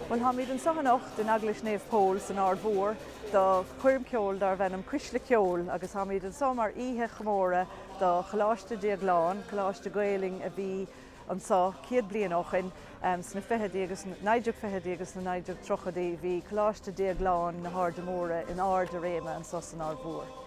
Bhuel, táimid anseo anocht in Eaglais Naomh Pól san Ard Mhór do choirm cheoil darbh ainm Cuisle Ceoil agus táimid anseo mar oíche chomórtha do Choláiste Déaglán, coláiste Gaelainne a bhí anseo céad bliain ó shoin. Sna fichidí agus sna, 1920idí agus sna 1930idí bhí Coláiste Déagláin na hAirde Móire in airde réime anseo san Ard Mhór.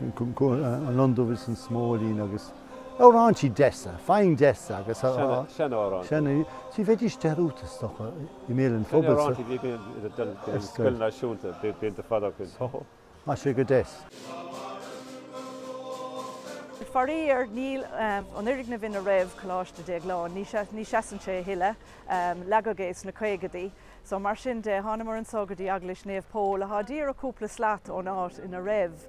an lon dubh is an smóilín agus amhráintí deasa, fíordheasa agus a. seanamhráintí, bheidís dearúdta is dócha i mbéal an phobail. Seanamhráintí a bhí sa scoil náisiúnta blianta fada ó shin. Bhí sé go deas. Faraor níl an foirgneamh ina raibh Coláiste Déagláin, ní sheasann sé a thuilleadh, leagadh é sna caogaidí. So, mar sin de, thánamar anso go dtí Eaglais Naomh Pól, athá díreach cúpla slat ón áit ina raibh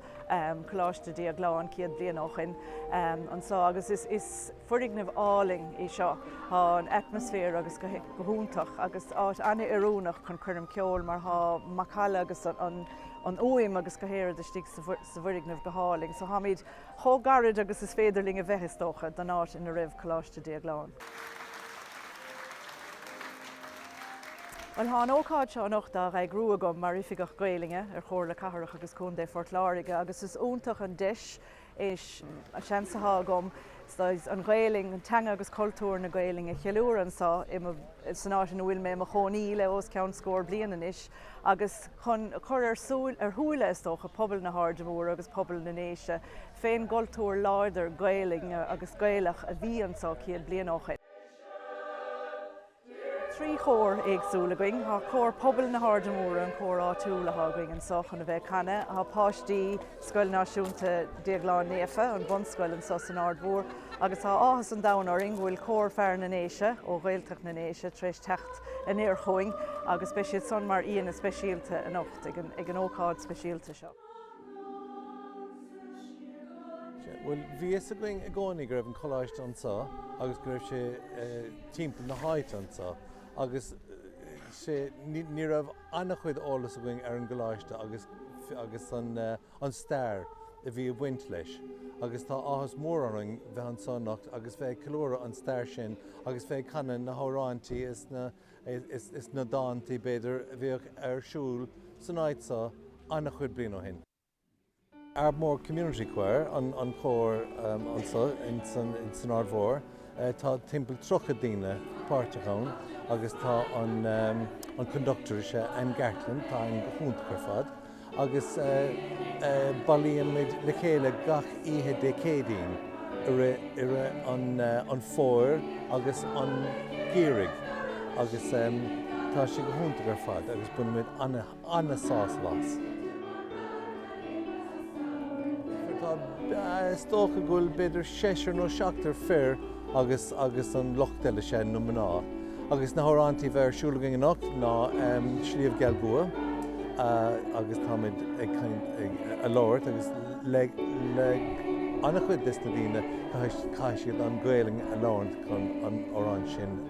Coláiste Dhéagláin céad bliain ó shoin, anso, agus is, is foirgneamh álainn é seo. Thá an atmosphere agus go, go hiontach, agus áit ana-oiriúnach chun coirm ceoil, mar thá macalla agus an, an fhuaim agus go háirid istigh sa, sa bhfoirgneamh go hálainn. So tháimid. chomh gairid agus is féidir linn a bheith, is dócha, don áit ina raibh Coláiste Déagláin. Bhuel, tá an ócáid seo anocht á eagrú agam mar Oifigeach Gaelainne ar Chomhairle Cathrach agus Contae Phort Láirge agus is iontach an deis é sin, an seans atá agam an Ghaelainn, an teanga agus cultúr na Gaelainne a cheiliúradh anseo san áit ina bhfuil mé i mo chónaí le os cionn scór bliain anois. agus chun cur ar shúile, is dócha, pobal na hAirde Móire agus pobal na nDéise féin, an cultúr láidir Gaelainne agus Gaelach a bhí anso céad bliain ó shin. Tá trí chór éagsúil againn, tá cór pobal na hAirde Móire, an cór áitiúil atá againn anso chun a bheith ag canadh, tá páistí Scoil Náisiúnta Déaglán Naofa, an bunscoil anso san Aird Mhór, Agus tá áthas an domhain orainn go bhfuil Cór Fear na nDéise ó Ghaeltacht na nDéise tar éis teacht anoir chugainn agus beidh siad san mar aíonna speisialta anocht ag an ócáid speisialta seo. Bhuel, bhí a fhios againn i gcónaí go raibh an coláiste anseo agus go raibh sé timpeall na háite anseo agus sé, ní raibh an-chuid eolas againn ar an gcoláiste agus an, an stair a bhí ag baint leis agus tá áthas mór orainn bheith anseo anocht agus bheith ag ceiliúradh an stair sin agus bheith ag canadh na hamhrántaí is na dántaí, b'fhéidir, a bhíodh ar siúl san áit seo ana-chuid bliain ó shin. Ardmore Community Choir an cór anseo in san Aird Mhóir. Tá timpeall tríocha daoine páirteach ann agus tá an conductor is ea Anne Gartland, tá Anne go hiontach ar fad agus bailímid le chéile gach oíche Dé Céadaoin i rith i rith an an Fómhair agus an gheimhridh agus tá sé go hiontach ar fad agus bainimid ana an-sásamh as. Tá, is dócha go bhfuil b'fhéidir seisear nó seachtar fir agus agus an lucht eile is ea na mná agus na hamhráin atá ar siúl againn anocht ná Sliabh Geal gCua agus táimid ag caint ag a labhairt agus le le an-chuid des na daoine caithfidh caithfidh siad an Ghaelainn a labhairt chun an amhrán sin